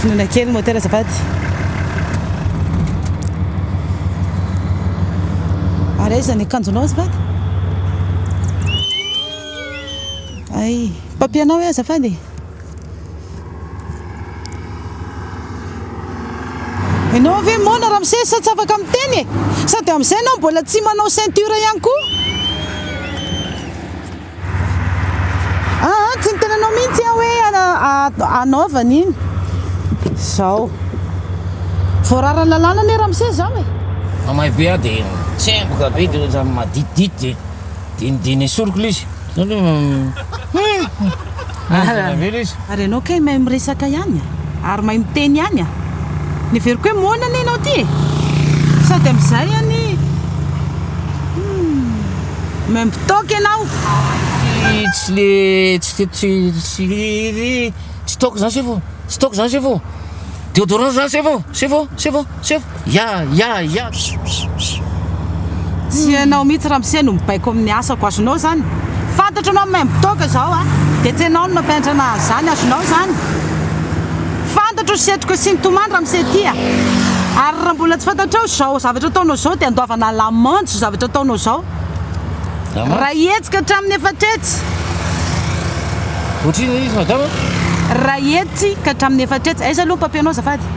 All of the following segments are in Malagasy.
Finoana kely ny moteur azafady. Ary aiza ny akanjonao azafady? Ay, papier-nao e azafady e. Enao ve moana Ramsey sa tsy afaka miteny e? Sady amin'izay enao mbola tsy manao ceinture ihany koa. Aa, tsy ny tenanao mihitsy aho hoe hanaovana iny. Zao. Voarara lalàna anie Ramsey zao e. Mamay be aho dia tsemboka be dia ohatran'ny maditidity dia dinidiny esoriko ilay izy. Ary ianao kay mahay miresaka ihany a! Ary mahay miteny ihany a! Ny heveriko hoe moana anie ianao ity e! Sady amin'izay anie humm membo toaka ianao! Tsy le tsy tsy toaka zany sefo, tsy toaka zany sefo, deodorant zany sefo, sefo, sefo. Seho, ya ya ya psipsipsip. Tsy ianao mihitsy ramose no mibaiko amin'ny asako azonao izany? Fantatro ianao maimbo toaka izao a! Dia tsy ianao no nampiantrana ahy izany azonao izany? Fantatro ny setroka sy ny tomany ramose ty a! Ary raha mbola tsy fantatrao izao zavatra ataonao izao dia andoavana lamandy izao zavatra ataonao izao! Raha hihetsika hatramin'ny efatra hetsy! Ohatrinona izy madama? Raha hihetsika hatramin'ny efatra hetsy! Aiza aloha ny papier-nao azafady?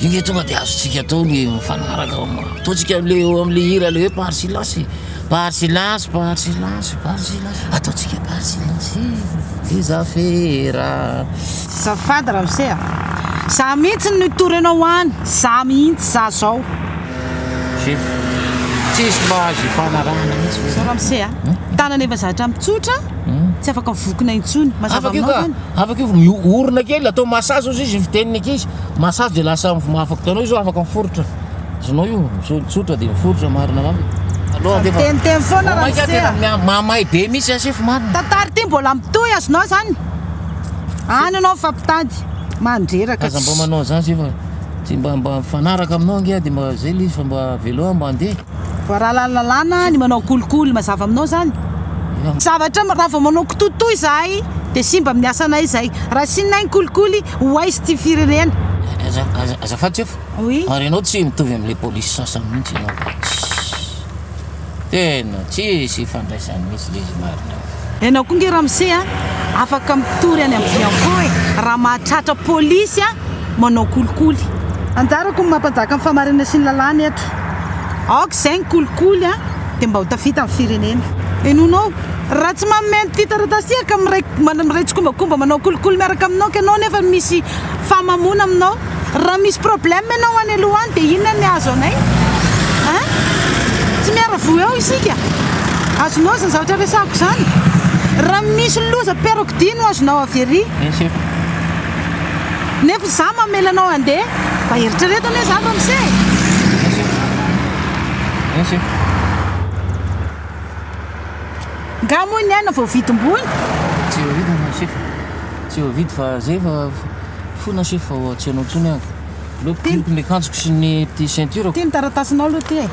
Inge tonga de azontsika atao le mifanaraka ao aminy. Ataontsika amle eo amle hira le hoe par silence e. Par silence, par silence, par silence. Ataontsika par silence e. Les affaires. Zafady ramose a! Za mihitsy no hitory anao any, za mihitsy za zao. Chief, tsisy mba azo ifanarahana mihitsy ve? Zao ramose a! Tanana efa zatra ampy tsotra, tsy afaka vokona intsony. Mazava aminao zany? Afaka io ka, afaka io, orina kely, atao massage ozy izy ny fiteniny ankizy. Massage dia lasa mivomafako tanao izao afaka miforitra zonao io zo tsotra dia miforitra marina lamba aloha dia teniteny foana raha maika tena mamay be misy asefo marina tantara ity mbola mitohy azonao zany any anao fa mpitady mandreraka aza mba manao zany zefa tsy mba mba mifanaraka aminao ange dia mba zay le izy fa mba velao mba andeha Voararan'ny lalàna ny manao kolikoly, mazava aminao zany? Zavatra ma raha vao manao kitoto izahay dia simba amin'ny asanay izay, raha asianay ny kolikoly ho aiza ity firenena? Azafady Jeff, ary ianao tsy mitovy amin'ilay polisy sasany mihitsy ianao fa tsisy, tena tsisy ifandraisany mihitsy ilay izy marina. Enao koa nge ramose a afaka mitory any am bianco e raha mahatratra polisy a manao kolikoly. Anjarako ny maha mpanjaka ny fahamarinana sy ny lalàna eto. Aoka izay ny kolikoly a dia mba ho tafita ny firenena. Henonao, raha tsy manome an'ity taratasy ity ka miray miray tsikombakomba manao kolikoly miaraka aminao ka ianao nefa misy fahamamoana aminao. Raha misy problème ianao any aloha any dia inona ny hahazo anay hein? Tsy miara-voa eo isika. Azonao izany zavatra resahako izany. Raha misy loza peroxydy no azonao avy ery. Yes chef. Nefa izaho mamela anao handeha. Mba eritrereto anie izany ramose e. Yes chef. Yes chef. Nga moa ny aina voavidim-boina? Tsy voavidy chef. Tsy voavidy fa zay fa. Fona se fa tsy anao tsony aho. Aleo pihiko ny akanjoko sy ny petit ceinture-ko. Ty ny taratasinao aloha ty e.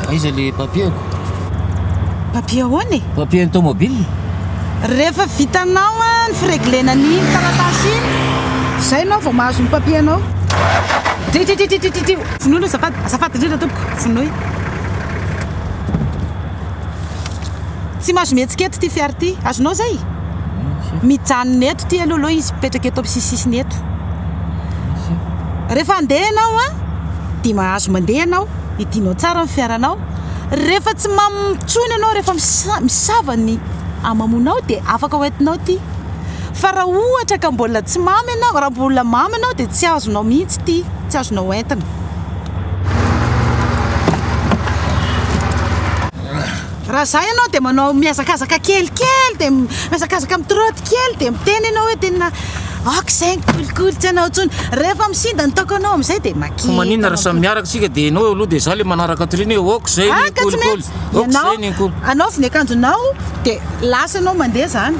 Aiza ilay papier-ko? Papier ahoana e? Papier ny tomobile. Rehefa vitanao ny fi-reglena an'iny taratasy iny, izay ianao vao mahazo ny papier-nao. Tititititititio. Vonoy aloha azafady, azafady indrindra tompoko, vonoy. Tsy mahazo mihetsika eto ity fiara ity. Azonao izay? Mijanona eto ity aloha aloha izy, mipetraka eto amin'ny sisisisiny eto. Rehefa handeha ianao an, dia mahazo mandeha ianao, hidinao tsara ny fiaranao. Rehefa tsy mamo intsony ianao, rehefa misava ny hamamoanao dia afaka hoentinao ity. Fa raha ohatra ka mbola tsy mamo ianao, raha mbola mamo ianao dia tsy azonao mihitsy ity, tsy azonao hoentina. Raha izaho ianao dia manao mihazakazaka kelikely dia mihazakazaka mitrotte kely dia miteny ianao hoe tena ok izay ny kolikoly tsy anao intsony. Rehefa misinda ny taoko anao amin'izay dia maky. Fa maninona raha samy miaraka isika dia ianao aloha dia izaho ilay manaraka atoriana hoe ok izay ny kolikoly, ok izay ny kolikoly. Ianao, anaovy ny akanjonao dia lasa ianao mandeha izany.